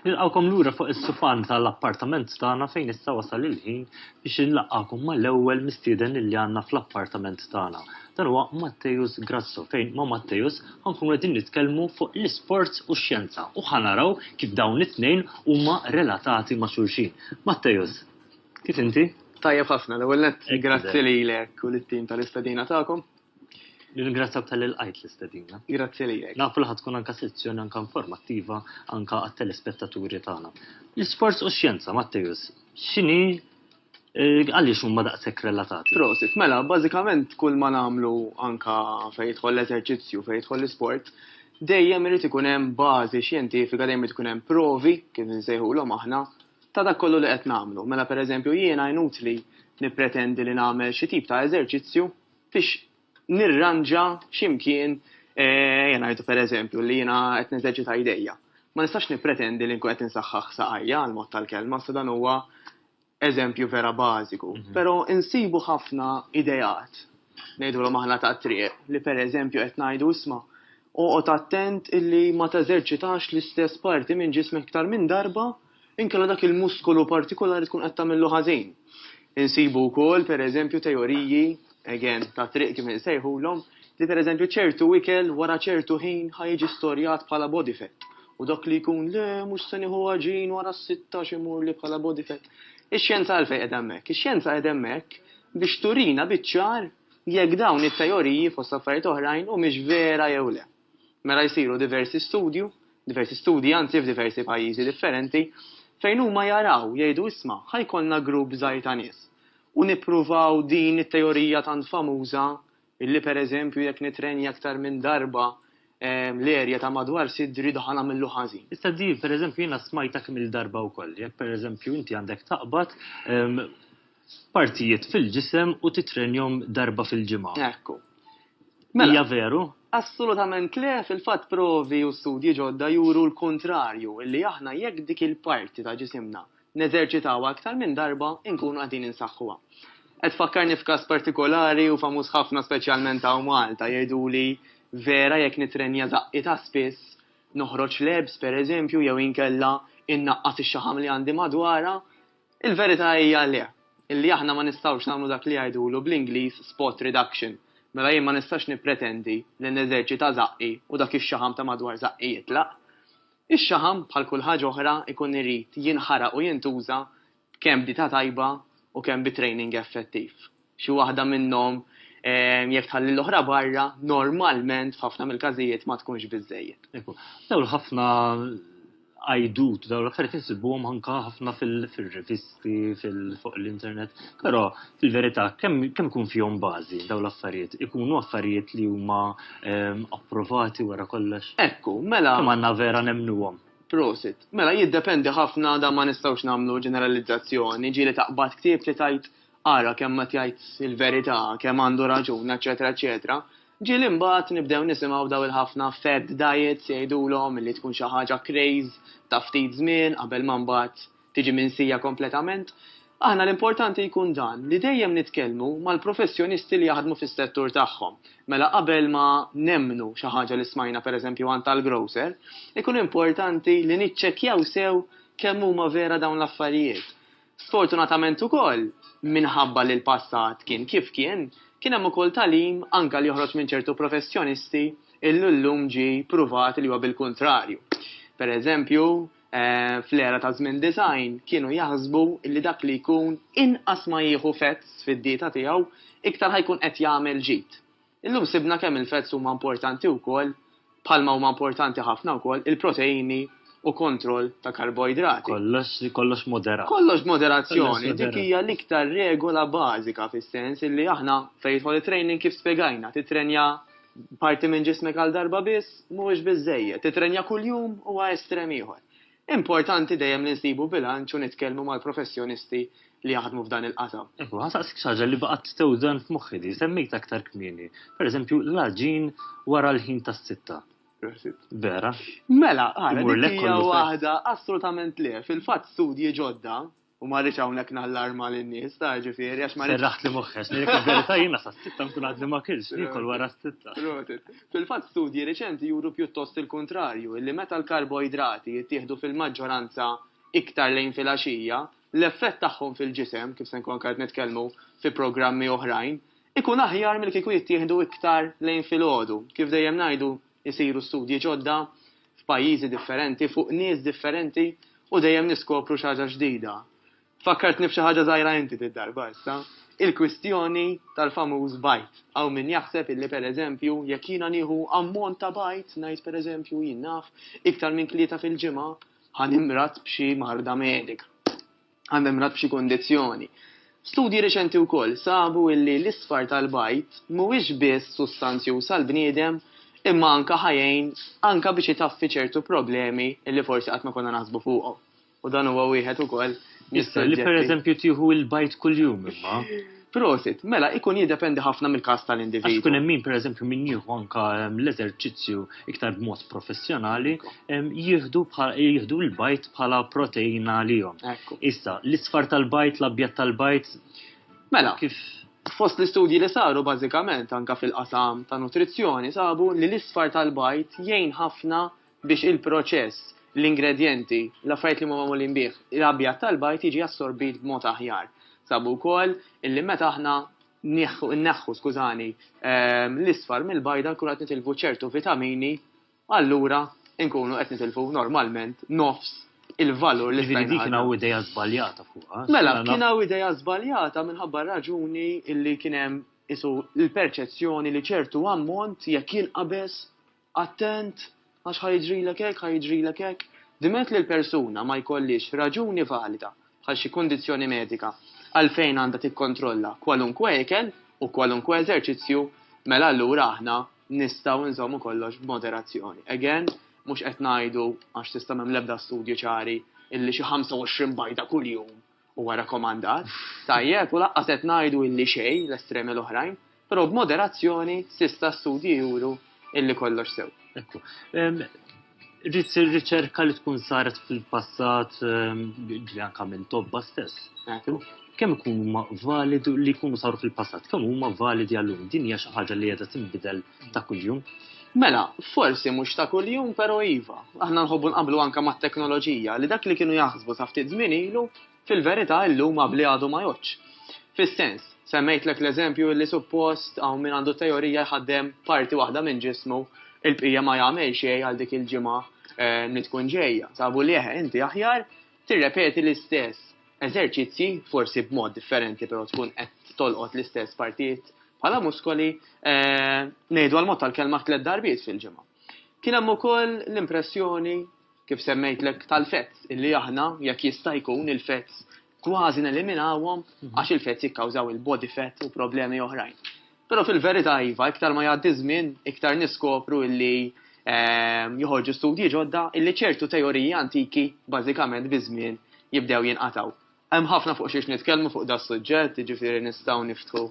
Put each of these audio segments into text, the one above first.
Nilqawkom lura fuq is-sufan tal-appartament tagħna fejn issa wasal il-ħin biex inlaqgħakom mal-ewwel mistieden li għandna fl-appartament tagħna. Dan huwa Matteus Grasso fejn ma' Matteus ħankun qegħdin nitkellmu fuq l-isport u x-xjenza u ħanaraw kif dawn it-tnejn huma relatati ma' xulxin. Matteus, Kif inti? Tajjeb ħafna, l-ewwel nett grazzi lilek u lit-tim tal-istedina tagħkom. Nirringrazzjak tal-li lqajt l-istedina. Grazzi lilek. Nafu li ħad tkun anka sezzjoni anka informattiva anka għat-telespettaturi tagħna. L-isports u x-xjenza, Matteus, x'inhi eh, għaliex huma daqshekk relatati? Prosit, mela, bażikament kull ma nagħmlu anka fejn jidħol l-eżerċizzju, fejn jidħol l-isport, dejjem irid ikun hemm bażi xjentifika, dejjem irid ikun hemm provi, kif nsejħulhom aħna, ta' dak kollu li qed nagħmlu. Mela pereżempju jiena inutli nippretendi li nagħmel xi tip ta' eżerċizzju biex nirranġa xi mkien ejja ngħidu pereżempju li jiena qed neżerċita jdejja. Ma nistax nippretendi li nkun qed insaħħaħ saqajja għal mod tal-kelma sa dan huwa eżempju vera bażiku. Però insibu ħafna ideat ngħidulhom aħna tat-triq li pereżempju qed ngħidu isma' Oqgħod attent illi ma teżerċitax l-istess parti minn ġismek iktar minn darba, inkella dak il-muskolu partikulari tkun qed tagħmillu ħażin. Insibu wkoll, pereżempju, teoriji, again, tat-triq kif insejħulhom, li pereżempju ċertu ikel wara ċertu ħin ħa jiġi storjat bħala body fat u dak li jkun le mhux se nieħu għaġin wara s-sitta għax imurli bħala body fat. Ix-xjenza għalfejn qiegħda hemmhekk? Ix-xjenza qiegħda hemmhekk biex turina biċ-ċar jekk dawn it-teoriji, fost affarijiet oħrajn, humiex vera jew le. Mela jsiru diversi studju, diversi studji anzi f'diversi pajjiżi differenti, fejn huma jaraw, jgħidu isma' ħa jkollna grupp żgħir ta' nies u nippruvaw din it-teorija tant famuża illi pereżempju jekk nitrenja aktar minn darba l-erja ta' madwar sidri daħ nagħmillu ħażin. Issa din pereżempju jiena smajtha kemm-il darba wkoll. Jekk pereżempju inti għandek taqbad, partijiet fil-ġisem u titrenjhom darba fil-ġimgħa. Ekku. Mela. Hija veru? Assolutament le, fil-fatt provi u studji ġodda juru l-kuntrarju, illi aħna jekk dik il-parti ta' ġisimna neżerċitawha aktar minn darba inkunu qegħdin insaħħuha. Qed tfakkarni f'każ partikolari u famuż ħafna speċjalment hawn Malta, jgħiduli vera jekk nitrenja żaqqi ta' spiss, noħroġ lebs pereżempju jew inkella innaqqas ix-xaħam li għandi madwarha, Il-verità hija le, illi aħna ma nistgħux nagħmlu dak li jgħidulu bl-Ingliż spot reduction, mela jien ma nistax nippretendi li neżerċita żaqqi u dak ix-xaħam ta' madwar żaqqi jitlaq. Ix-xaħam, bħal kull ħaġa oħra, ikun irid jinħaraq u jintuża kemm b'dieta tajba u kemm bi training effettiv. Xi waħda minnhom, jekk tħalli l-oħra barra, normalment f'ħafna mill-każijiet ma tkunx biżżejjed. Dawn ħafna għajdut, dawn l-affarijiet insibuhom anke ħafna fil-rivisti, fuq l-internet, però fil-verità kemm ikun fihom bażi dawn l-affarijiet? Ikunu affarijiet li huma approvati wara kollox? Ekku, mela. Kemm għandna vera nemmnuhom? Prosit. Mela jiddependi ħafna dan ma nistgħux nagħmlu ġeneralizzazzjoni, ġieli taqbad ktieb li tgħid ara kemm qed jgħid il-verità, kemm għandu raġun, eċċetera eċċetera, ġieli mbagħad nibdew nisimgħu daw il-ħafna fad diets jgħidulhom li tkun xi ħaġa craze ta' ftit żmien qabel ma mbagħad tiġi minsija kompletament. Aħna l-importanti jkun dan li dejjem nitkellmu mal-professjonisti li jaħdmu fis-settur tagħhom. Mela qabel ma nemmnu xi ħaġa li smajna pereżempju għand tal-grocer, ikun importanti li niċċekkjaw sew kemm huma vera dawn l-affarijiet. Sfortunatament ukoll, minħabba li l-passat kien kif kien, kien hemm ukoll tagħlim anke li joħroġ minn ċertu professjonisti illi llum ġie pruvat li huwa bil-kuntrarju. Per eżempju, fl-era ta' żmien design kienu jaħsbu illi dak li jkun inqas ma jieħu fats fid-dieta tiegħu iktar ħa jkun qed jagħmel ġid. Illum sibna kemm il-fats huma importanti wkoll, bħalma huma importanti ħafna wkoll il-proteini u kontroll ta' karboidrati. Kollox, kollox moderat. Kollox b'moderazzjoni, dik hija l-iktar regola bażika fis-sens illi aħna fejn jidħol it-training kif spjegajna, tittrenja parti minn ġismek għal darba biss mhuwiex biżżejjed, tittrenja kuljum huwa estrem ieħor. Importanti dejjem li nsibu bilanċ u nitkellmu mal-professjonisti li jaħdmu f'dan il-qasam. Hu nsaqsik xi ħaġa li baqgħet tewżan f'moħħi li semmejtha aktar kmieni. Pereżempju, l-għaġin wara l-ħin tas-sitta. Vera? Mela, ara, dik hija waħda assolutament le. Fil-fatt studji ġodda, U ma rridx hawnhekk nallarma lin-nies ta' ġifieri għax ma rridx. Serraħt li moħħex, li verità jiena sa sitta nkun għadni ma kilx, nikol wara s-sitta. Fil-fatt studji riċenti juru pjuttost il-kuntrarju, illi meta l-karboidrati jittieħdu fil-maġġoranza iktar lejn filgħaxija, l-effett tagħhom fil-ġisem, kif se nkun anke qed nitkellmu fi programmi oħrajn, ikun aħjar milli kieku jittieħdu iktar lejn filgħodu. Kif dejjem ngħidu jsiru studji ġodda, f'pajjiżi differenti, fuq nies differenti u dejjem niskopru xi ħaġa ġdida. Fakkartni f'xi ħaġa żgħira inti did-darba issa. Il-kwistjoni tal-famuż bajd. Hawn min jaħseb illi pereżempju jekk jiena nieħu ammont ta' bajd, ngħid pereżempju, jien naf, iktar minn tlieta fil-ġimgħa, ħa nimrad b'xi marda medika. għall-memrat b'xi kundizzjoni. Studji riċenti wkoll sabu illi l-isfar tal-bajd mhuwiex biss sustanzjuż għall-bniedem imma anke ħa jgħin anke biex itaffi ċertu problemi illi forsi qatt ma konna naħsbu fuqhom. U dan huwa wieħed ukoll mis-suġġetti. Li pereżempju tieħu l-bajd kuljum imma. Prosit, mela ikun jiddependi ħafna mill-każ tal-individwu. Għax ikun hemm min pereżempju min jieħu anke l-eżerċizzju iktar b'mod professjonali jieħdu jieħdu l-bajt bħala proteina għalihom. Issa, l-isfar tal-bajt, l-abjad tal-bajt. Mela, kif fost l-istudji li saru bażikament anke fil-qasam ta' nutrizzjoni sabu li l-isfar tal-bajt jgħin ħafna biex il-proċess, l-ingredjenti, l-affarijiet li huma magħmulin bih, l-abjad tal-bajd jiġi assorbit b'mod aħjar. Sabu wkoll illi meta aħna nieħħu, nneħħu, skużani, ehm, l-isfar mill-bajda nkunu qed nitilfu ċertu vitamini, allura nkunu qed nitilfu normalment nofs il-valur li Ġifieri dik kien hawn ideja żbaljata fuqha. Mela, kien hawn ideja żbaljata minħabba raġuni illi kien hemm isu l-perċezzjoni li ċertu ammont jekk jinqabeż Attent, għax ħa jiġrilek hekk, ħa jiġrilek hekk. Diment li l-persuna ma jkollhiex raġuni valida, bħal xi kundizzjoni medika, għalfejn għandha tikkontrolla kwalunkwe ikel u kwalunkwe eżerċizzju, mela allura aħna nistgħu nżommu kollox b'moderazzjoni. Again, mhux qed ngħidu, għax s'issa m'hemm l-ebda studji ċari, illi xi 25 bajda kuljum Huwa rakkomandat, tajjeb u lanqas qed ngħidu illi xejn l-estremi l-oħrajn, però b'moderazzjoni s'issa studji juru illi kollox sew. Ekku. Rrid sir riċerka li tkun saret fil-passat li anke minn tobba stess. Kemm ikunu huma validi li jkunu saru fil-passat, kemm huma validi għallum. Din hija xi ħaġa li qiegħda tinbidel ta' kuljum. Mela, forsi mhux ta' kuljum, pero iva. Aħna nħobbu nqablu anka ma' teknoloġija li dak li kienu jaħsbu sa' ftit żmien ilu, fil-verità illum qabli għadu ma jgħodx. Fis-sens, semmejtlek l-eżempju li suppost hawn min għandu teorija jħaddem parti waħda minn ġismu il-bqija ma jagħmel xejn għal dik il-ġimgħa eh, li tkun ġejja. Sabu li eħe, inti aħjar Tirrepeti l-istess eżerċizzji, forsi b'mod differenti però tkun qed tolqot l-istess partijiet bħala muskoli, ngħidu għall-mod tal-kelma tliet darbiet fil-ġimgħa. Kien hemm ukoll l-impressjoni, kif semmejtlek, tal-fats, illi aħna, jekk jista' jkun, il-fats kważi neliminawhom għax il-fats jikkawżaw il-body fat u problemi oħrajn. Però fil-verità iva, iktar ma jgħaddi ż-żmien, iktar niskopru illi joħorġu studji ġodda illi ċertu teoriji antiki bażikament biż-żmien jibdew jinqatgħu. Hemm ħafna fuq xiex nitkellmu fuq da suġġett, jiġifieri nistgħu niftħu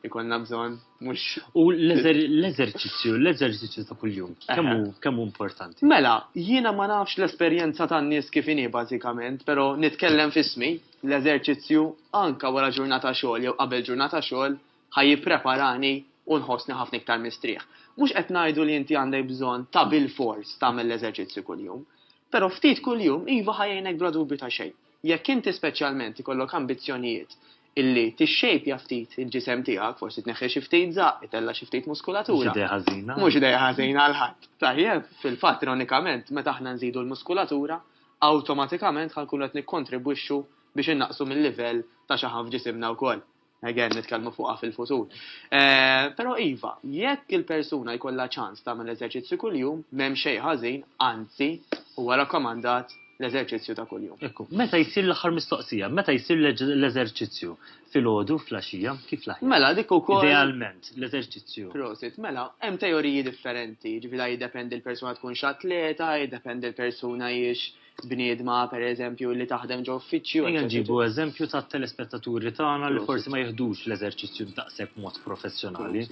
jkollna bżonn mhux. U l-eżerċizzju, l-eżerċizzju ta' kuljum, kemm hu importanti? Mela, jiena ma nafx l-esperjenza tan-nies kif inhi bażikament, però nitkellem f'ismi, l-eżerċizzju anke wara ġurnata xogħol jew qabel ġurnata xogħol ħa jippreparani u nħossni ħafna iktar mistrieħ. Mhux qed ngħidu li inti għandek bżonn ta' bilfors tagħmel l-eżerċizzju kuljum. Però ftit kuljum iva ħa jgħinek bla dubju ta' xejn. Jekk inti speċjalment ikollok ambizzjonijiet illi tixxejpja ftit il-ġisem tiegħek, forsi tneħħi xi ftit żaqq, itella' xi ftit muskulatura. Mhux idea ħażina. Mhux idea ħażina għal ħadd. Tajjeb, fil-fatt ironikament meta aħna nżidu l-muskulatura, awtomatikament ħa nkunu qed nikkontribwixxu biex innaqqsu mil-livell ta' xaħam f'ġisimna wkoll. Again, nitkellmu fuqha fil-futur. Eh, però iva, jekk il-persuna jkollha ċans tagħmel eżerċizzju kuljum, m'hemm xejn ħażin, anzi, huwa rakkomandat l-eżerċizzju ta' kuljum. Ekku, meta jsir l-aħħar mistoqsija, meta jsir l-eżerċizzju fil-ħodu, fl-axija, kif laħja? Mela, dik ukoll. Idealment, l-eżerċizzju. Prosit, mela, hemm teoriji differenti, ġifieri jiddependi l-persuna tkun x'atleta, jiddependi l-persuna jiex bniedma per eżempju li taħdem ġo uffiċċju. Ejja ġibu eżempju ta' telespettaturi tagħna li forsi ma jihdux l-eżerċizzju daqshekk mod professjonali.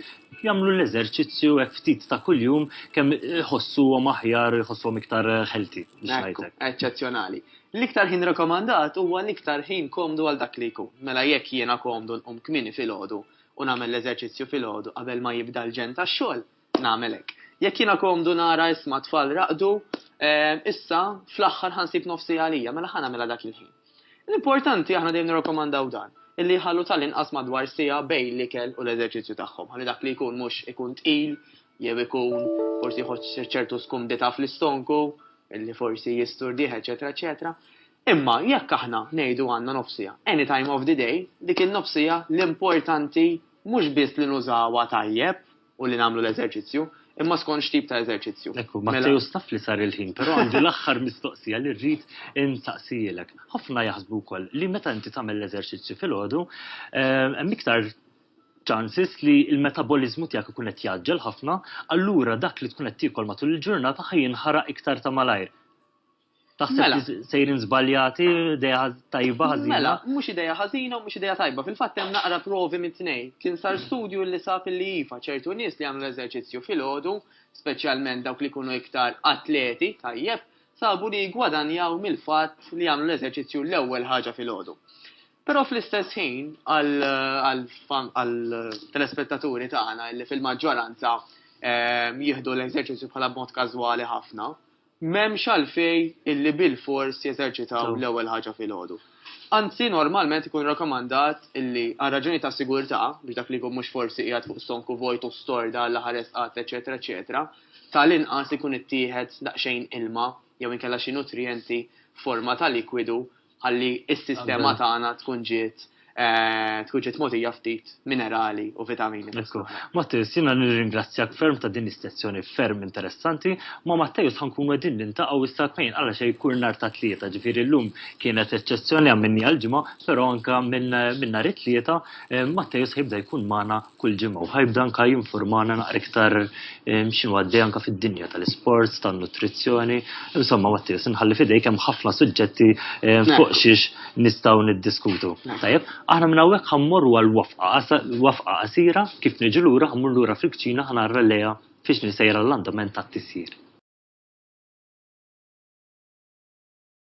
Jagħmlu l-eżerċizzju hekk ftit ta' kuljum kemm iħossuhom aħjar, iħossuhom iktar ħelti. Eċċezzjonali. L-iktar ħin rekomandat huwa l-iktar ħin komdu għal dak li jkun. Mela jekk jiena komdu nqum kmini fil-ħodu u nagħmel l-eżerċizzju fil-ħodu qabel ma jibda l-ġen tax-xogħol, Nagħmel hekk. Jekk jiena komdu nara isma' t-tfal raqdu, issa, fl-aħħar ħa nsib nofs siegħa għalija, mela ħa nagħmilha dak il-ħin. L-importanti, aħna dejjem nirrakkomandaw dan, illi jħallu tal-inqas madwar siegħa bejn l-ikel u l-eżerċizzju tagħhom, ħalli dak li jkun mhux ikun tqil jew ikun forsi jħoss ċertu skumdità fl-istonku, illi forsi jisturdih, eċetera, eċetera. Imma jekk aħna ngħidu għandna nofs siegħa, any time of the day, dik in-nofs siegħa l-importanti mhux biss li nużawha tajjeb, u li nagħmlu l-eżerċizzju, imma skont x'tip ta' eżerċizzju. Ekku, Mela- Mattew staf li sar il-ħin, però għandi l-aħħar mistoqsija li rrid insaqsijilek. Ħafna jaħsbu wkoll li meta inti tagħmel l-eżerċizzju filgħodu, eh, hemm iktar chances li l-metaboliżmu tiegħek ikun qed jgħaġġel ħafna, allura dak li tkun qed tiekol matul il-ġurnata ħajinħaraq iktar ta' malajr. Taħseb Mela. li sejrin żbaljati, ideja ħaz- tajba ħażina. Mela, mhux ideja ħażina u mhux ideja tajba. Fil-fatt hemm naqra provi mit-tnejn. Kien sar studju li sab li iva, ċertu nies li jagħmlu l-eżerċizzju filgħodu, speċjalment dawk li jkunu iktar atleti, tajjeb, sabu li jgwadanjaw mill-fatt li jagħmlu l-eżerċizzju l-ewwel ħaġa filgħodu. Però fl-istess ħin għal- għal fan- għal telespettaturi tagħna li fil-maġġoranza ehm, jieħdu l-eżerċizzju bħala b'mod każwali ħafna, M'hemmx għalfejn illi bilfors jeżerċitaw l-ewwel ħaġa filgħodu. Anzi, normalment ikun rakkomandat illi, għal raġunijiet ta' sigurtà, biex dak li jkun mhux forsi qiegħed fuq stonku vojt u storda għal aħar resqat, eċċetera, eċċetera, ta' l-inqas ikun ittieħed daqsxejn ilma jew inkella xi nutrijenti f'forma ta' likwidu Ħalli s-sistema tagħna tkun ġiet Eh, tkun ġiet mogħtija ftit minerali u vitamini. Mattis, jiena nirringrazzjak ferm ta' din istazzjoni ferm interessanti, ma' Mattejus ħankun wedin nintaqgħu issa kmejn għala xejn kull nhar ta' tlieta, ġifieri llum kienet eċċezzjoni għamminni għal-ġimgħa, però anka minn nhar it-tlieta eh, Mattejus ħibda jkun magħna kull ġimgħa u ħajbda anka jinformana naqra iktar ehm, x'inhu għaddej anka fid-dinja tal-isports, tan-nutrizzjoni. Insomma, Mattia, sinħalli fidejk hemm ħafna suġġetti ehm, fuq xiex nistgħu niddiskutu. Tajjeb, aħna minn hawnhekk ħammorru għal wafqa qasira kif niġu lura ħammur lura fil-kċina ħanarra lejha fiex nisejra l-andament tat-tisjir.